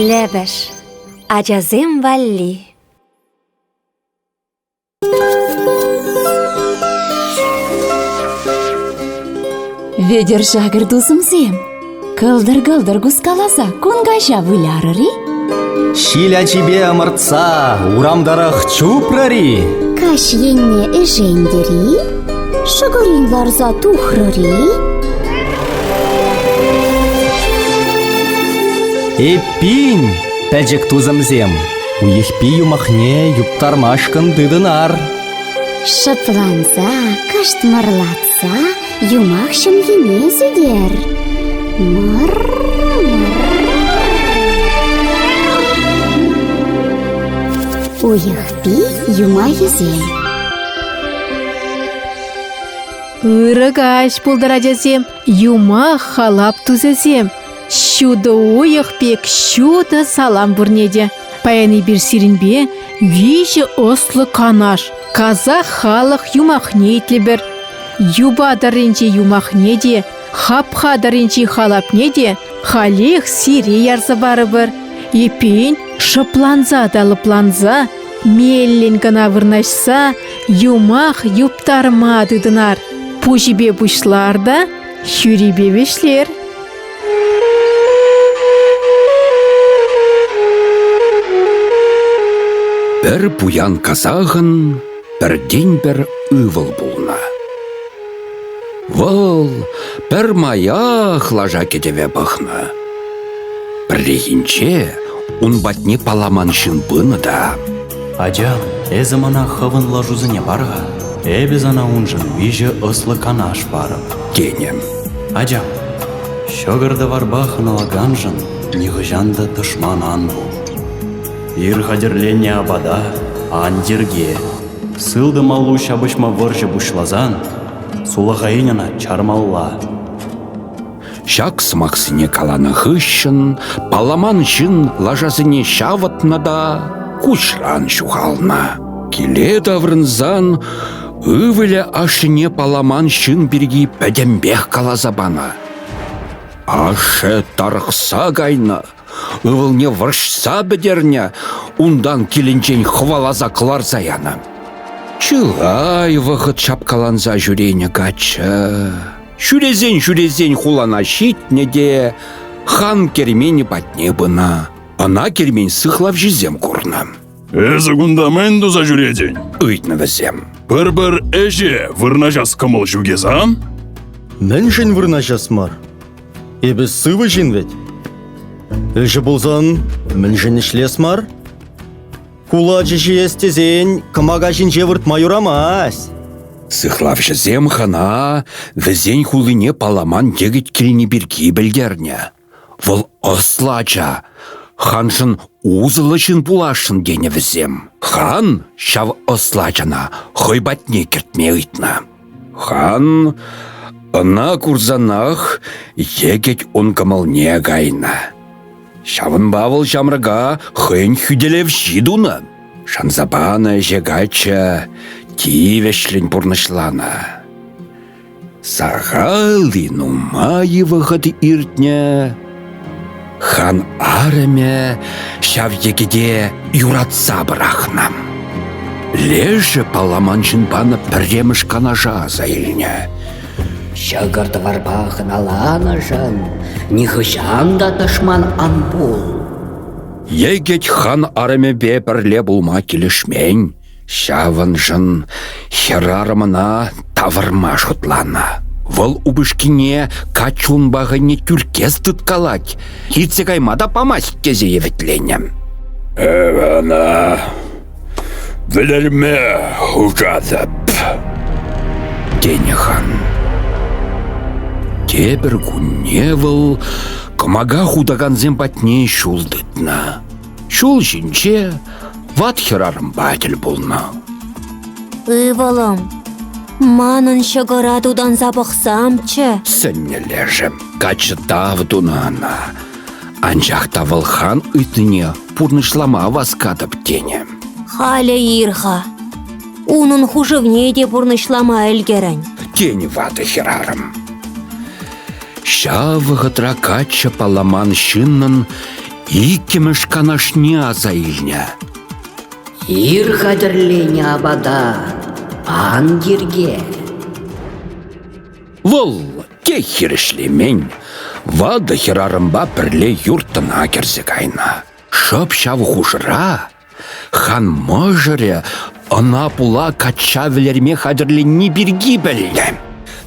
Лӗпӗш ачасем валли Вӗтӗр-шакӑр тусӑмсем, кӑлтӑр-кӑлтӑр кускаласа кун каҫа вылярӑр-и? Ҫил ачипе ӑмӑртса урам тӑрӑх чупрӑр-и? Каҫ енне ӗшентӗр-и? Шӑкӑрин ларса тухрӑр-и? Эппин, пӗчӗк тусӑмсем, Уйӑхпи юмахне юптармашкӑн тытӑнар. Шӑпланса, кӑштмӑрлатса юмах ҫӑмхине сӳтер. Мӑр-мӑр. Уйӑхпи юмахӗсем. Ырӑ каҫ пултӑр, ачасем, юмах халап тусӗсем. Ҫутӑ уйӑх пек ҫутӑ салам пурне те. Паян эпир сирӗнпе виҫӗ ӑслӑ канаш, казах халӑх юмахне итлӗпӗр. Юпа тӑрринчи юмахне те, хапха тӑрринчи халапне те халех сире ярса парӑпӑр. Эппин, шӑпланса та лӑпланса, меллӗн кӑна вырнаҫса юмах юптарма тытӑнар. Пуҫӗпе пуҫлар та Ҫӳрипе вӗҫлер. Пӗр пуян казахӑн пӗртен-пӗр ывӑл пулнӑ. Вӑл пӗр маях лаша кӗтӗве пӑхнӑ. Пӗррехинче ун патне паламан ҫын пынӑ та Ача, эсӗ мана хӑвӑн лашусене пар-ха, эпӗ сана уншӑн виҫӗ ӑслӑ канаш парӑп, тенӗ. Ачам, ҫӑкӑр-тӑварпа хӑналаканшӑн нихӑҫан та тӑшман ан пул. Ир хатӗрленӗ апата ан йӗрке. Сылтӑм аллу ҫапӑҫма вӑрҫӑ пуҫласан сулахаин ӑна чармалла. Ҫак сӑмахсене каланӑ хыҫҫӑн палламан ҫын лашасене ҫавӑтнӑ та куҫран ҫухалнӑ. Киле таврӑнсан ывӑлӗ ашшӗне палламан ҫын пирки пӗтӗмпех каласа панӑ. Ашшӗ тарӑхса кайнӑ, Ывӑлне вӑрҫса пӗтернӗ, унтан килӗнчен хӑваласа кӑларса янӑ. Чылай вӑхӑт ҫапкаланса ҫӳренӗ каччӑ. Ҫӳресен-ҫӳресен хулана ҫитнӗ те хан керменӗ патне пынӑ. Ӑна кермен сыхлавҫисем курнӑ. «Эсӗ кунта мӗн туса ҫӳретӗн?» – ыйтнӑ вӗсем. «Пӗр-пӗр ӗҫе вырнаҫас кӑмӑл ҫук эс, а?» «Мӗншӗн вырнаҫас мар? Эпӗ сывӑ ҫын вӗт. Ӗҫӗ пулсан мӗншӗн ӗҫлес мар? Кулачӑ ҫиес тесен кӑмака ҫинче выртма юрамасть. Сыхлавҫӑсем хана вӗсен хулине паламан йӗкӗт килни пирки пӗлтернӗ. Вӑл ӑслӑ ача, ханшӑн усӑллӑ ҫын пуласшӑн тенӗ вӗсем. Хан ҫав ӑслӑ ачана хӑй патне кӗртме ыйтнӑ. Хан ӑна курсанах йӗкӗт ун кӑмӑлне кайнӑ. Ҫавӑнпа вӑл ҫамрӑка хӑйӗн хӳтӗлевҫи тунӑ. Шанса панӑ ӗҫе каччӑ тивӗҫлӗн пурнӑҫланӑ. Сахали нумай вӑхӑт иртнӗ, Хан арӑмӗ ҫав йӗкӗте юратса пӑрахнӑ. Лешӗ паламан ҫын панӑ пӗрремӗш канаша аса илнӗ. Ҫӑкӑр-тӑварпа хӑналанӑшӑн нихӑҫан та тӑшман ан пул. Йӗкӗт хан арӑмӗпе пӗрле пулма килӗшмен, Ҫавӑншӑн хӗрарӑмна тавӑрма шутланӑ. Вӑл упӑшкине каҫ унпа хӑйне тӳрккес тыткалать, иртсе кайма та памасть тесе евитленӗ. Эпӗ ӑна вӗлерме хушатӑп, тенӗ хан. Тепӗр кунне вӑл кӑмака хутакансем патне ҫул тытнӑ. Ҫул ҫинче ват хӗрарӑмпа тӗл пулнӑ. Ывӑлӑм, манӑн ҫӑкӑра тутанса пӑхсамччӗ. Сӗннӗ лешӗ каччӑ тав тунӑ ӑна. Анчах та вӑл хан ыйтнине пурнӑҫлама васкатӑп тенӗ. Халӗ ир-ха. Унӑн хушӑвне те пурнӑҫлама ӗлкӗрӗн, тенӗ ватӑ хӗрарӑм. Ҫав вӑхӑтра каччӑ палламан ҫыннӑн Иккӗмӗш канашне аса илнӗ. Ир хатӗрленӗ апата ан йӗрке. Вӑл те хирӗҫлемен. Ватӑ хӗрарӑмпа пӗрле юрттӑна кӗрсе кайнӑ. Шӑп ҫав хушӑра Хан мӑшӑрӗ ӑна пула качча вӗлерме хатӗрленни пирки пӗлнӗ.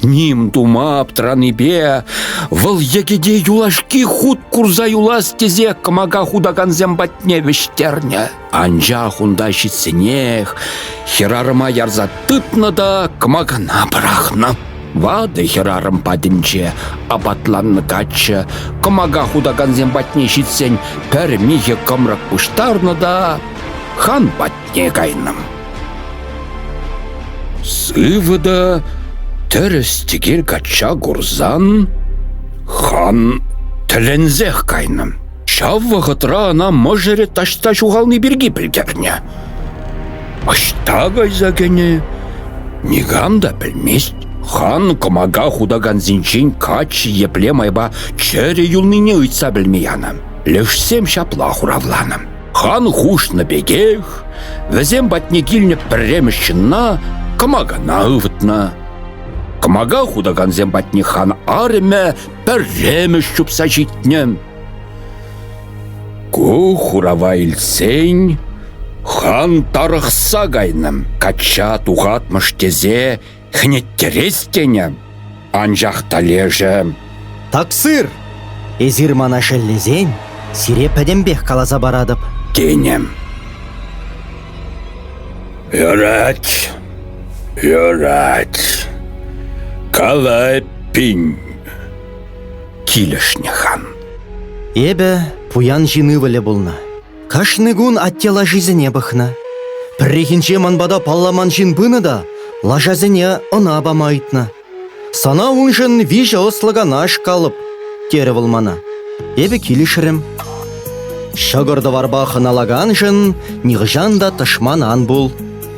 Ним тума аптранипе вӑл йӗкӗте юлашки хут курса юлас тесе кӑмака хутакансем патне вӗҫтернӗ. Анчах унта ҫитсенех хӗрарӑма ярса тытнӑ та кӑмакана пӑрахнӑ. Ватӑ хӗрарӑм патӗнче апатланнӑ каччӑ кӑмака хутакансем патне ҫитсен пӗр михӗ кӑмрӑк пуҫтарнӑ та хан патне кайнӑ. Сывӑ та тӗрӗс-тӗкел качча курсан хан тӗлӗнсех кайнӑ. Ҫав вӑхӑтра ӑна мӑшӑрӗ таҫта ҫухални пирки пӗлтернӗ. Ӑҫта кайса кӗнӗ? Никам та пӗлмест. Хан кӑмака хутакансенчен каччӑ епле майпа чӗрӗ юлнине ыйтса пӗлме янӑ. Лешсем ҫапла хуравланӑ. Хан хушнӑ пекех, вӗсем патне килнӗ пӗрремӗш ҫынна кӑмакана ывӑтнӑ. Кӑмака хутакансем патне хан арӑмӗ пӗрремӗш чупса ҫитнӗ. Ку хурава илсен хан тарӑхса кайнӑ, качча тухатмӑш тесе хӗнеттерес тенӗ. Анчах та лешӗ «Таксир, эсир мана шеллесен сире пӗтӗмпех каласа паратӑп», тенӗ. «Юрать, юрать, калай пин». Килӗшнӗ хан. Эпӗ пуян ҫын ывӑлӗ пулнӑ. Кашни кун атте лашисене пӑхнӑ. Пӗррехинче ман пата палламан ҫын пынӑ та лашасене ӑна пама ыйтнӑ. «Сана уншӑн виҫӗ ӑслӑ канаш калӑп», – терӗ вӑл мана. Эпӗ килӗшрӗм. Ҫӑкӑр-тӑварпа хӑналаканшӑн нихӑҫан та тӑшман ан пул.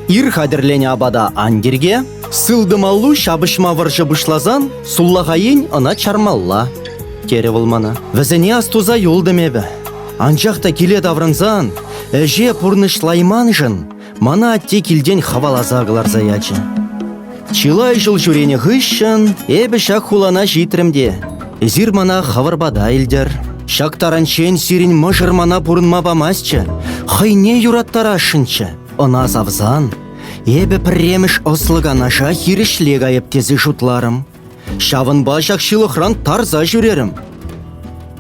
Ир хатӗрленӗ апата ан тирке. Сылтӑмаллу ҫапӑҫма вӑрҫӑ пуҫласан суллаха ен ӑна чармалла, терӗ вӑл мана. Вӗсене астуса юлтӑм эпӗ. Анчах та киле таврӑнсан ӗҫе пурнӑҫлайманшӑн мана атте килтен хӑваласа кӑларса ячӗ. Чылай ҫул ҫӳренӗ хыҫҫӑн эпӗ ҫак хулана ҫитрӗм те эсир мана хӑвӑр пата илтӗр. Ҫак таранччен сирӗн мӑшӑр мана пурӑнма памастчӗ, хӑйне юраттарасшӑнччӗ. Ӑна савсан эпӗ пӗрремӗш ӑслӑ канаша хирӗҫле кайӑп тесе шутларӑм. Ҫавӑнпа ҫак ҫылӑхран тарса ҫӳрерӗм.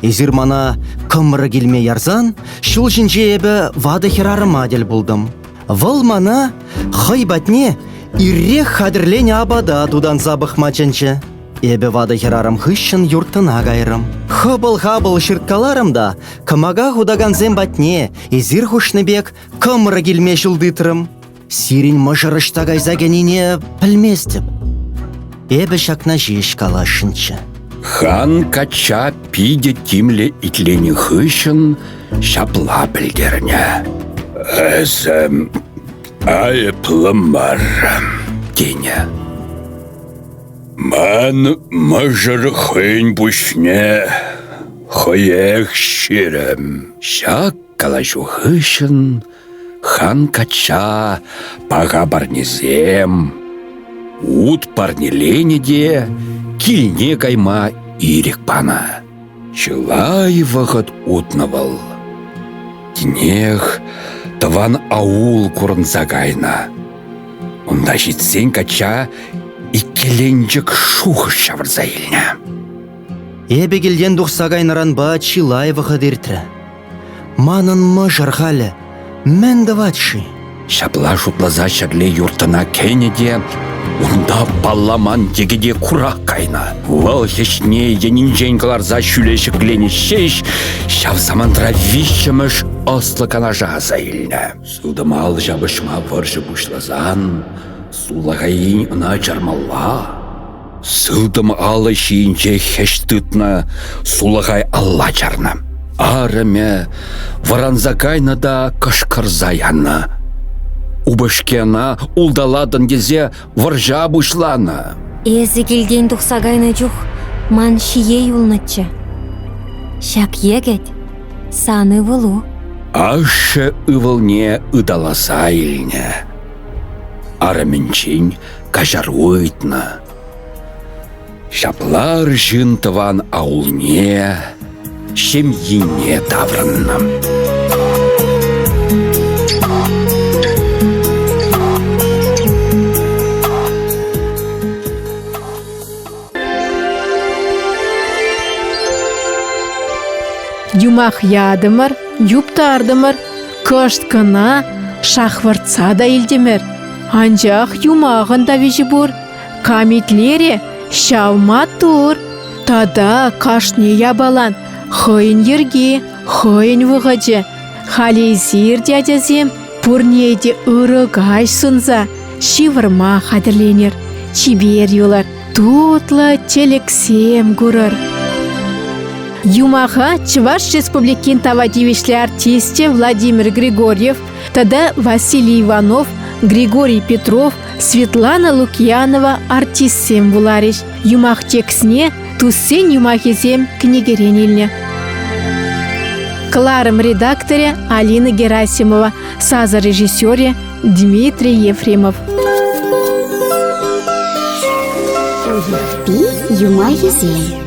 Эсир мана кӑмрӑ килме ярсан ҫул ҫинче эпӗ ватӑ хӗрарӑма тӗл пултӑм. Вӑл мана хӑй патне иррех хатӗрленӗ апата тутанса пӑхма чӗнчӗ. Эпӗ ватӑ хӗрарӑм хыҫҫӑн юрттӑна кайрӑм. Хӑпӑл-хапӑл ҫырткаларӑм та кӑмака хутакансем патне эсир хушнӑ пек Кӑмрӑк илме ҫул тытрӑм. Сирӗн мӑшӑр ӑҫта кайса кӗнине пӗлместӗп. Эпӗ ҫакна ҫеҫ каласшӑнччӗ. Хан качча питӗ тимлӗ итленӗ хыҫҫӑн ҫапла пӗлтернӗ. Эсӗ айӑплӑ мар, тенӗ. Ман мӑшӑр хӑйӗн пуҫне хӑех ҫирӗм. Ҫак Калаҫу хыҫҫӑн хан качча паха парнесем, ут парнеленӗ те килне кайма ирӗк панӑ. Чылай вӑхӑт утнӑ вӑл. Тинех тӑван аул курӑнса кайнӑ. Унта ҫитсен качча иккӗленчӗк шухӑш ҫавӑрса илнӗ. Эпӗ килтен тухса кайнӑранпа чылай вӑхӑт иртрӗ. Манӑн мӑшӑр халӗ мӗн тӑвать-ши? Ҫапла шутласа ҫӗрле юрттӑна кӗнӗ те унта палламан йӗкӗте курак кайнӑ. Вӑл хӗҫне енӗнчен кӑларса ҫӳле ҫӗкленӗ ҫеҫ ҫав самантра виҫҫӗмӗш ӑслӑ канаша аса илнӗ. Сылтӑмал ҫапӑҫма вӑрҫӑ пуҫласан сулахайин ӑна чармалла. Сылтӑм алӑ ҫийӗнче хӗҫ тытнӑ сулахай алла чарнӑ. Арӑмӗ вӑранса кайнӑ та кӑшкӑрса янӑ. Упӑшки ӑна улталатӑн тесе вӑрҫа пуҫланӑ. Эсӗ килтен тухса кайнӑ чух ман ҫие юлнӑччӗ. Ҫак йӗкӗт – сан ывӑлу. Ашшӗ ывӑлне ыталаса илнӗ. Арӑмӗнчен каҫар ыйтнӑ. Ҫапла арҫын тӑван аулне, ҫемйине таврӑннӑ. юмах ятӑмӑр юптартӑмӑр кӑшт кӑна шахвӑртса та илтӗмӗр анчах юмахӑн та виҫи пур кам итлерӗ ҫав маттур тата кашни япалан хӑйӗн йӗрки хӑйӗн вӑхӑчӗ халь эсир те ачасем пурне те ырӑ каҫ сунса ҫывӑрма хатӗрленӗр чипер юлӑр Тутлӑ чӗлӗксем курӑр. Юмаха Чӑваш Республикин тава тивӗҫлӗ артисчӗ Владимир Григорьев тата Василий Иванов, Григорий Петров, Светлана Лукьянова артистсем вуларӗҫ. Юмах текстне туссен юмахӗсем кӗнекерен илнӗ. Кӑларӑм редакторӗ Алина Герасимова, сасӑ режиссерӗ Дмитрий Ефремов. Юпи юмахӗсем